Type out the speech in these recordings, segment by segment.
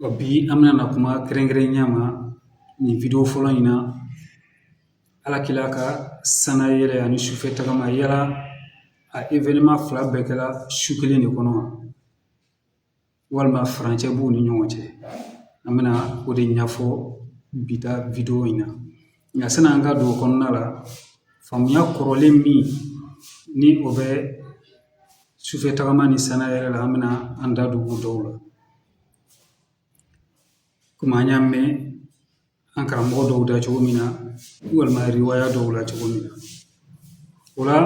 Wa bi an bɛna na kuma kɛrɛnkɛrɛnnenya ma nin video fɔlɔ in na ala kila ka sanna yɛlɛ ani sufɛ tagama yala a événement fila bɛɛ kɛla su kelen de kɔnɔ walima furancɛ b'u ni ɲɔgɔn cɛ an bɛna o de ɲɛfɔ bi ta video in na Nka san'an ka don o kɔnɔna la faamuya kɔrɔlen minnu bɛ sufɛ tagama ni sanna yɛlɛ la an bɛna an da don o dɔw la komi an y'a mɛn an karamɔgɔ dɔw da cogo min na walima riwaya dɔw la cogo min na o la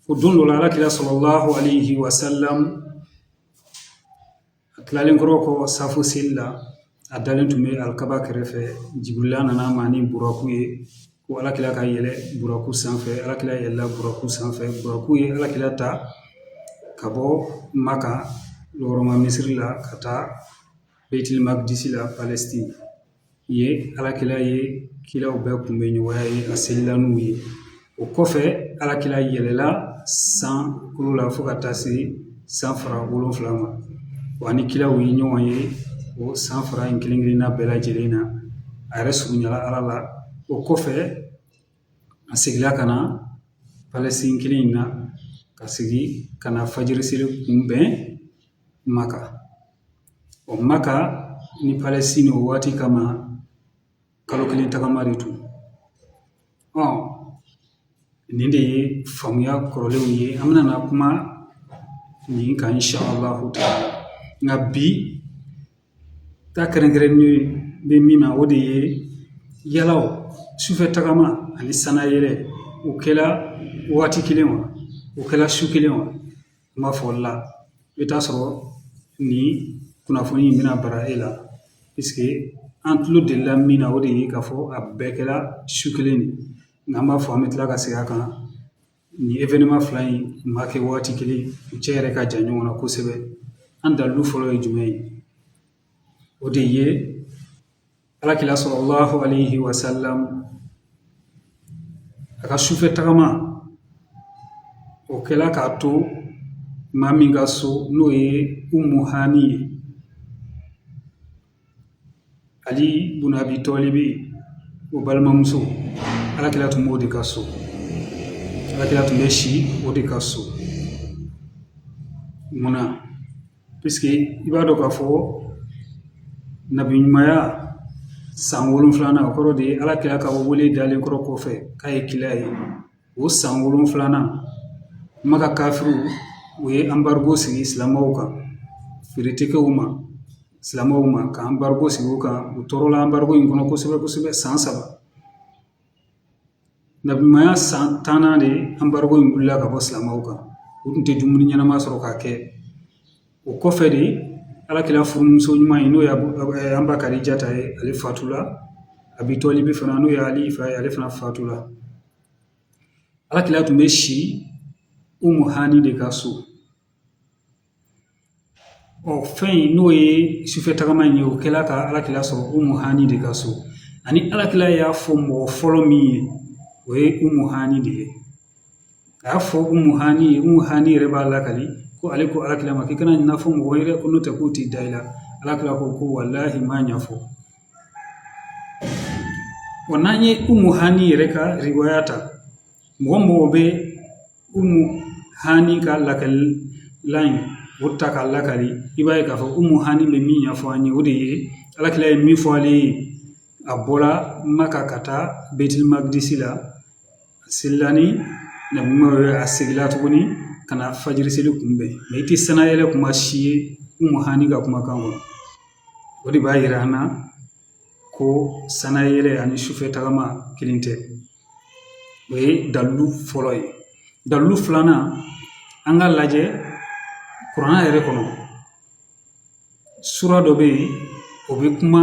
o don dɔ la alakira salallahu alayhi wa sallam a tilalen kɔrɔ kɔ safo seli la a dalen tun bɛ alikaba kɛrɛfɛ Jibirila nan'a ma ni buraku ye ko ala kira ka yɛlɛ buraku sanfɛ ala kira yɛlɛla buraku sanfɛ buraku ye ala kira ta ka bɔ Maka la hɔrɔma misiri la ka taa baytil magdisi la Yen alakira ye kiraw bɛɛ kunbɛn ɲɔgɔnya yen a selila n'u ye o kɔfɛ alakira yɛlɛla sankolo la fo ka taa se san fara wolonwula ma wa a ni kiraw ye ɲɔgɔn ye o san fara in kelen-kelenna bɛɛ lajɛlen na a yɛrɛ surunyala ala la o kɔfɛ A seginna ka na Palestine kelen in na ka segin ka na fajiri seli kunbɛn Maka ɔ Maka ni Palestine o waati kama kalo kelen tagama de tun ɔ nin de ye faamuya kɔrɔlenw ye an bɛna na kuma nin kan inshallahu taala nka bi Ta kɛrɛnkɛrɛnnen bɛ min na o de ye yala sufɛ tagama ani sanna yɛlɛ o kɛla waati kelen wa o kɛla su kelen wa n b'a fɔ o la i bɛ t'a sɔrɔ nin kunnafoni in bɛna bara e la puisque an tulo delila min na o de ye k'a fɔ a bɛɛ kɛla su kelen de nka an b'a fɔ an bɛ tila ka segin a kan Nin événement fila in ma kɛ waati kelen u cɛ yɛrɛ ka jan ɲɔgɔn na kosɛbɛ an dalu fɔlɔ ye jumɛn ye o de ye alakila salallahu alayhi wa sallam a ka sufɛ tagama o kɛla k'a to maa min ka so n'o ye Umu Hani ye Ali bun Abi Tɔlibi o balimamuso ala kila tun b'o de ka so ala kila tun bɛ si o de ka so munna puisque i b'a dɔn k'a fɔ nabi ɲumanya san wolonwulanan o kɔrɔ de ye ala kila ka wele dalen kɔrɔ kɔfɛ k'a ye kila ye O san wolonfilanan maka kafiriw u ye embargo sigi silamɛw kan feere tɛ kɛ u ma silamɛw ma ka embargo sigi u kan u tɔɔrɔla embargo in kɔnɔ kosɛbɛ kosɛbɛ san saba nabiɲumanya san tannan de embargo in wulila ka bɔ silamɛw kan u tun tɛ dumuni ɲɛnama sɔrɔ k'a kɛ o kɔfɛ de alakira furumuso ɲuman ye n'o ye an ba kadijata ye ale fatula abi tolibi fana n'o ye ali fa ye ale fana fatula alakira tun bɛ si umu hani de ka so ɔ fɛn in n'o ye sufɛ tagama in ye o kɛla ka alakira sɔrɔ umu hani de ka so ani alakira y'a fɔ mɔgɔ fɔlɔ min ye o ye umu hani de ye a y'a fɔ umu hani ye umu hani yɛrɛ b'a lakali ko ale ko alakira ma k'i kana nin fɔ mɔgɔ ye dɛ ko n'o tɛ k'u tɛ da i la alakira ko ko walahi n b'a ɲɛfɔ wa n'an ye umu hani yɛrɛ ka riwaya ta mɔgɔ mɔgɔ bɛ umu hani ka lakalilen in o ta k'a lakali i b'a ye k'a fɔ umu hani bɛ min ɲɛfɔ an ye o de ye alakira ye min fɔ ale ye a bɔra maka ka taa betil magdisi la A selila ni na a seginna tuguni ka na fajiri seli kunbɛn mɛ i tɛ sanayɛlɛ kuma si ye umu hani ka kumakan kɔnɔ o de b'a yira an na ko sanayɛlɛ ani sufɛ tagama kelen tɛ o ye dalilu fɔlɔ ye dalilu filanan an ka lajɛ kuranɛ yɛrɛ kɔnɔ sura dɔ bɛ yen o bɛ kuma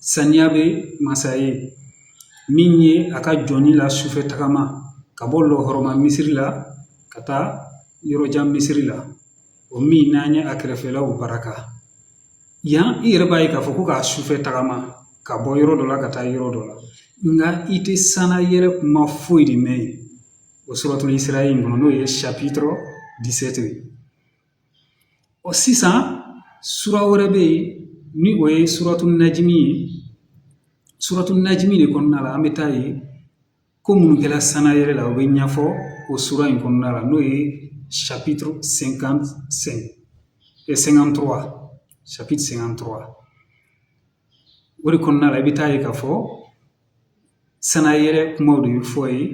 Saniya bɛ masa ye min ye a ka jɔn in la sufɛ tagama ka bɔ lahɔrɔma misiri la ka taa yɔrɔjan misiri la o min n'an ye a kɛrɛfɛlaw barika yan i yɛrɛ b'a ye k'a fɔ ko k'a sufɛ tagama ka bɔ yɔrɔ dɔ la ka taa yɔrɔ dɔ la nka i tɛ sanayɛlɛ kuma foyi de mɛn yen o suratul isra in kɔnɔ n'o ye chapitre dix-sept ye Ɔ sisan sura wɛrɛ bɛ yen ni o ye suratu najimi ye suratu najimi de kɔnɔna la an bɛ taa ye ko minnu kɛra sanayɛlɛ la u bɛ ɲɛfɔ o sura in kɔnɔna la n'o ye chapitre cinquante cinquante-trois chapitre cinquante-trois o de kɔnɔna la i bɛ taa ye k'a fɔ sanayɛlɛ kumaw de bɛ fɔ yen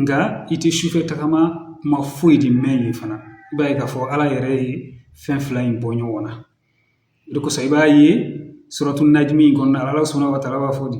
nka i tɛ sufɛ tagama kuma foyi de mɛn yen fana i b'a ye k'a fɔ ala yɛrɛ ye fɛn fila in bɔ ɲɔgɔn na o de kosɔn i b'a ye suratu najimi in kɔnɔna la ala subahana wa taala b'a fɔ de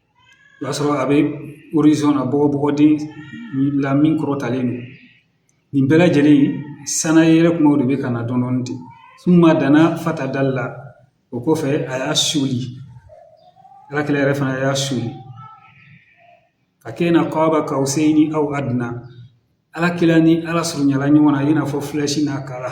O y'a sɔrɔ a bɛ horizon na bɔgɔden la min kɔrɔtalen don nin bɛɛ lajɛlen sanayɛlɛ kumaw de bɛ ka na dɔɔnin dɔɔnin ten summa dana fatadala o kɔfɛ a y'a suli ala kila yɛrɛ fana y'a suli fakana kaaba kawseyini aw aduna ala kila ni ala surunyala ɲɔgɔn na i n'a fɔ filɛsi n'a kala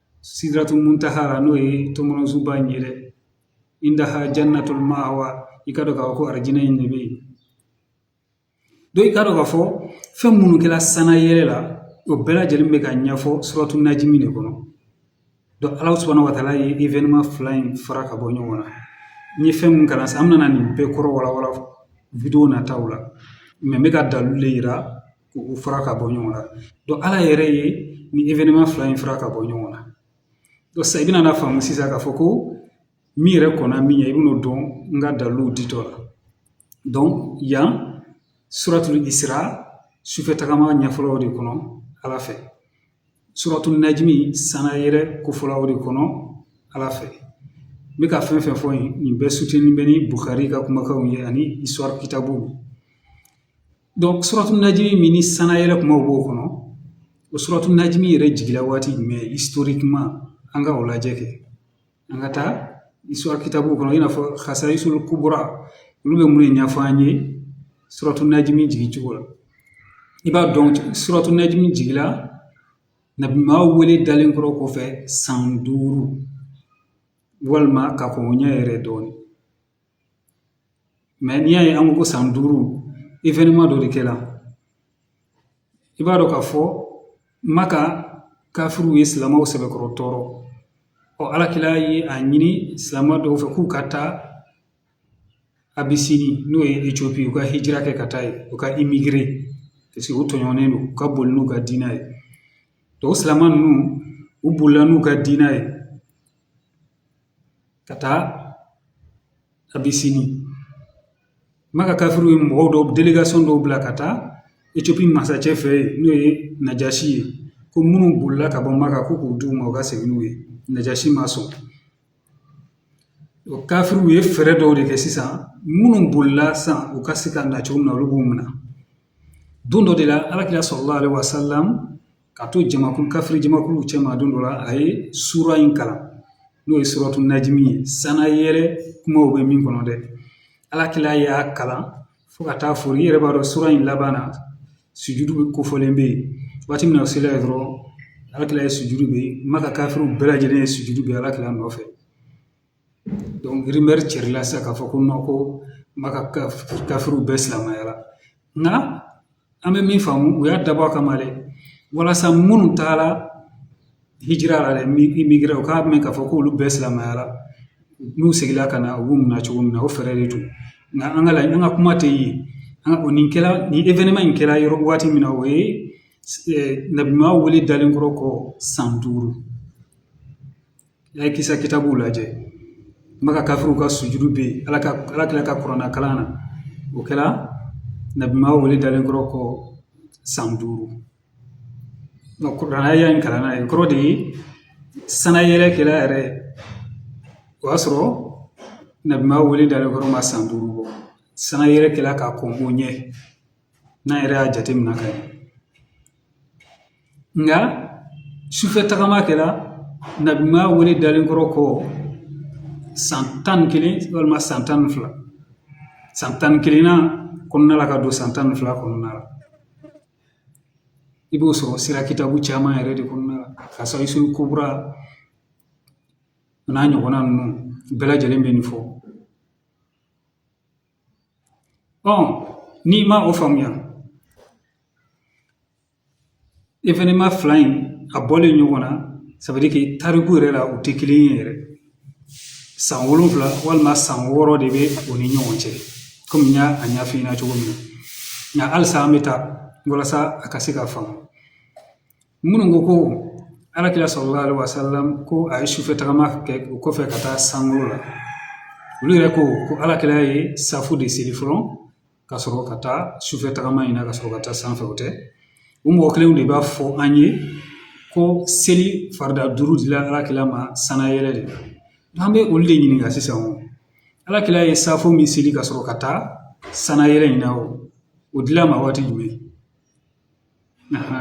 sidiratul muntaha la n'o ye tɔmɔnɔsunba in ye dɛ indaha janatul mawa i k'a dɔn k'a fɔ ko arijinɛ in de bɛ yen donc i k'a dɔn k'a fɔ fɛn minnu kɛra sanayɛlɛ la o bɛɛ lajɛlen bɛ ka ɲɛfɔ suratu najimi de kɔnɔ ala subahana wataala ye événement fila in fara ka bɔ ɲɔgɔn na n ye fɛn min kalan sisan an bɛna nin bɛɛ kɔrɔ walawala vidéo nataw la n bɛ ka dalilu de yira k'u fara ka bɔ ɲɔgɔn na ala yɛrɛ ye nin événement fila in fara ka bɔ ɲɔgɔn na sisan i bɛn'a faamu sisan k'a fɔ ko min yɛrɛ kɔnna min ye i bɛn'o dɔn n ka daliluw ditɔ la yan suratul isira sufɛ tagama ɲɛfɔla o de kɔnɔ ala fɛ suratu najimi sanayɛlɛ kofɔla o de kɔnɔ ala fɛ n bɛ ka fɛn fɛn fɔ nin bɛɛ soutenu bɛ ni bukari ka kumakanw ye ani histoire kitabuw donc suratu najimi min ni sanayɛlɛ kumaw b'o kɔnɔ o suratu najimi yɛrɛ jigila waati jumɛn historiquement an ka o lajɛ kɛ an ka taa histoire kitabu kɔnɔ i n'a fɔ hasayisulu kubura olu bɛ mun de ɲɛfɔ an ye suratu najimi jigicogo la i b'a dɔn suratu najimi jigila nabi maa wele dalen kɔrɔ kɔfɛ san duuru walima ka kɔn o ɲɛ yɛrɛ dɔɔnin mɛ n'i y'a ye an ko ko san duuru événement dɔ de kɛla i b'a dɔn k'a fɔ maka kafiriw ye silamɛw sɛbɛkɔrɔ tɔɔrɔ ɔ ala kila ye a ɲini silamɛ dɔw fɛ k'u ka taa abisini n'o ye etiopi u ka hijira kɛ ka taa yen u ka imigire paseke u tɔɲɔnnen don u ka boli n'u ka diinɛ ye donc o silamɛ ninnu u bolila n'u ka diinɛ ye ka taa abisini maka kafiriw ye mɔgɔw dɔw délégation dɔw bila ka taa etiopi masacɛ fɛ yen n'o ye najaasi ye ko minnu bolila ka bɔ maka ko k'u d'u ma u ka segin n'u ye najaasi ma sɔn o kafiriw ye fɛɛrɛ dɔw de kɛ sisan minnu bolila sisan u ka se ka na cogo min na olu b'u minɛ don dɔ de la alakira salala alehi wasalamu ka to jamakulu kafiri jamakulu cɛma don dɔ la a ye sura in kalan n'o ye suratu najimi ye sanayɛlɛ kumaw bɛ min kɔnɔ dɛ ala kila y'a kalan fo ka taa foori i yɛrɛ b'a dɔn sura in laban na sujudu ben kofɔlen bɛ yen waati min na o sela yen dɔrɔn ala kila ye sujudu ben maka kafiriw bɛɛ lajɛlen ye sujudu ben ala kila nɔfɛ cɛrila sisan k'a fɔ ko non ko Maka kafiriw bɛɛ silamɛyala nka an bɛ min faamu u y'a dabɔ a kama dɛ walasa minnu taara hijira la dɛ immigré u k'a mɛn k'a fɔ k'olu bɛɛ silamɛyala n'u seginna ka na u b'u minɛ cogo min na o fɛɛrɛ de don nka an ka laɲini an ka kuma tɛ yen an ka o nin événement in kɛra yɔrɔ waati min na o ye nabiman wele dalen kɔrɔ kɔ san duuru N'a ye kisa kitabuw lajɛ Maka kafiriw ka sujudu bɛ yen ala ka ala kila ka kuranna kalan na o kɛra nabiman wele dalen kɔrɔ kɔ san duuru kuranɛ aya in kalanna ye kɔrɔ de ye sannayɛlɛ kɛra yɛrɛ o y'a sɔrɔ nabiman wele dalen kɔrɔ ma san duuru bɔ sannayɛlɛ kɛra ka kɔn o ɲɛ n'an yɛrɛ y'a jateminɛ ka ɲɛ nka sufɛ tagama kɛra nabiman wele dalen kɔrɔ kɔ san tan ni kelen walima san tan ni fila san tan ni kelen na kɔnɔna la ka don san tan ni fila kɔnɔna la i b'o sɔrɔ sira kitabu caman yɛrɛ de kɔnɔna la Kasayisuli Kubra n'a ɲɔgɔnna ninnu bɛɛ lajɛlen bɛ nin fɔ n'i ma o faamuya événement fila in a bɔlen ɲɔgɔn na ça veut dire que tariku yɛrɛ la u tɛ kelen ye yɛrɛ san wolonwula walima san wɔɔrɔ de bɛ u ni ɲɔgɔn cɛ kɔmi n y'a ɲɛfɔ i ɲɛna cogo min na nka halisa an bɛ taa walasa a ka se ka faamu minnu ko ko ala kira salalahu alayhi wa salam ko a ye sufɛ tagama kɛ o kɔfɛ ka taa sankolo la olu yɛrɛ ko ko ala kira ye safo de seli fɔlɔ ka sɔrɔ ka taa sufɛ tagama in na ka sɔrɔ ka taa sanfɛ o tɛ o mɔgɔ kelenw de b'a fɔ an ye ko seli farida duuru dila ala kira ma sannayɛlɛ de la an bɛ olu de ɲininka sisan o ala kira ye safo min seli ka sɔrɔ ka taa sannayɛlɛ in na o o dil'a ma waati jumɛn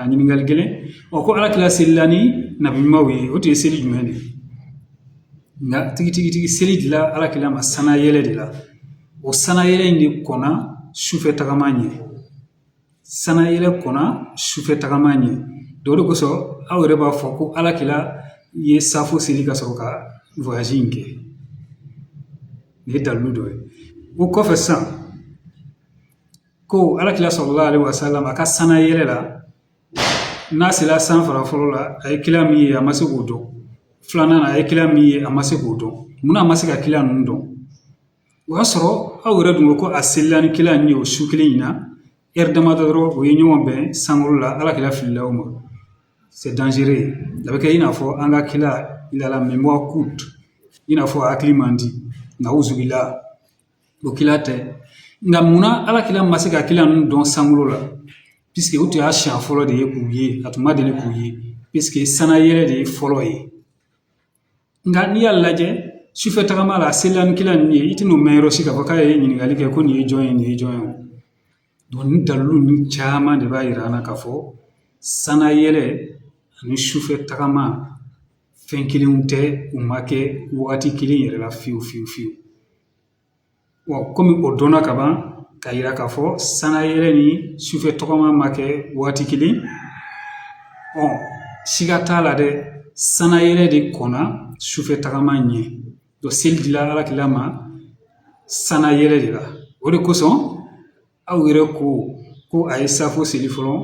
ɲininkali gɛlɛn ɔ ko ala kila selila ni nabiɲumanw ye o tun ye seli jumɛn de ye nka tigitigi seli dila ala kila ma sannayɛlɛ de la o sannayɛlɛ in de kɔnna sufɛ tagama ɲɛ sannayɛlɛ kɔnna sufɛ tagama ɲɛ o de kosɔn aw yɛrɛ b'a fɔ ko ala kila ye safo seli ka sɔrɔ ka voyage in kɛ nin ye dalilu dɔ ye o kɔfɛ sisan ko alakira salalahu alaihi wasalam a ka sanayɛlɛ la n'a sera san fara fɔlɔ la a ye kila min ye a ma se k'o dɔn filanan a ye kila min ye a ma se k'o dɔn munna a ma se ka kila ninnu dɔn o y'a sɔrɔ aw yɛrɛ dun ko ko a selila ni kila ninnu ye o su kelen in na heure damadɔ dɔrɔn o ye ɲɔgɔn bɛn sankolo la alakira filila o ma c'est dangereux a bɛ kɛ i n'a fɔ an ka kila il a la mémoire courte i n'a fɔ a hakili man di nawuzubila O kila tɛ nka munna ala kila ma se ka kila ninnu dɔn sankolo la puisque o tun y'a siɲɛ fɔlɔ de ye k'u ye a tun ma deli k'u ye puisque sanayɛlɛ de ye fɔlɔ ye nka n'i y'a lajɛ sufɛ tagama la a selila ni kila ninnu ye i tɛna o mɛn yɔrɔ si k'a fɔ k'a ye ɲininkali kɛ ko nin ye jɔn ye nin ye jɔn ye Donc nin dalilu ninnu caman de b'a yira an na k'a fɔ sanayɛlɛ ani sufɛ tagama fɛn kelenw tɛ u ma kɛ wagati kelen yɛrɛ la fiyewu fiyewu fiyewu wa kɔmi o dɔnna ka ban k'a yira k'a fɔ sanayɛlɛ ni sufɛ tɔgɔma ma kɛ waati kelen ɔ siga t'a la dɛ sanayɛlɛ de kɔnna sufɛ tagama ɲɛ seli dila ala kila ma sanayɛlɛ de la o de kosɔn aw yɛrɛ ko ko a ye safo seli fɔlɔ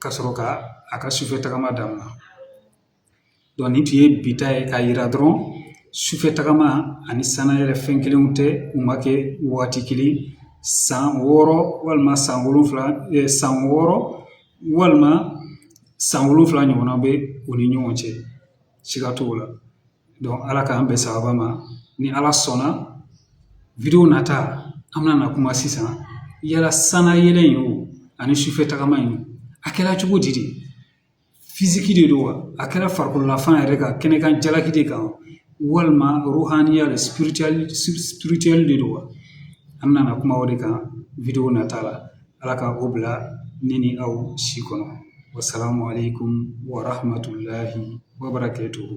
ka sɔrɔ ka a ka sufɛ tagama daminɛ donc nin tun ye bi ta ye k'a yira dɔrɔn sufɛ tagama ani sanayɛlɛ fɛn kelenw tɛ u ma kɛ waati kelen san wɔɔrɔ walima san wolonwula san wɔɔrɔ walima san wolonwula ɲɔgɔnna bɛ u ni ɲɔgɔn cɛ siga t'o la Donc Ala k'an bɛn sababa ma ni Ala sɔnna video nata an bɛna na kuma sisan yala sanayɛlɛ in ani sufɛ tagama in a kɛra cogo di de fiziki de don wa a kɛra farikololafan yɛrɛ ka kɛnɛkan jalaki de kan walima ruhaniya de spirituel de don wa an bɛna na kuma o de kan video nata la Ala ka o bila ne ni aw si kɔnɔ wasalamu aleykum warahmatulahi wabarakatuhu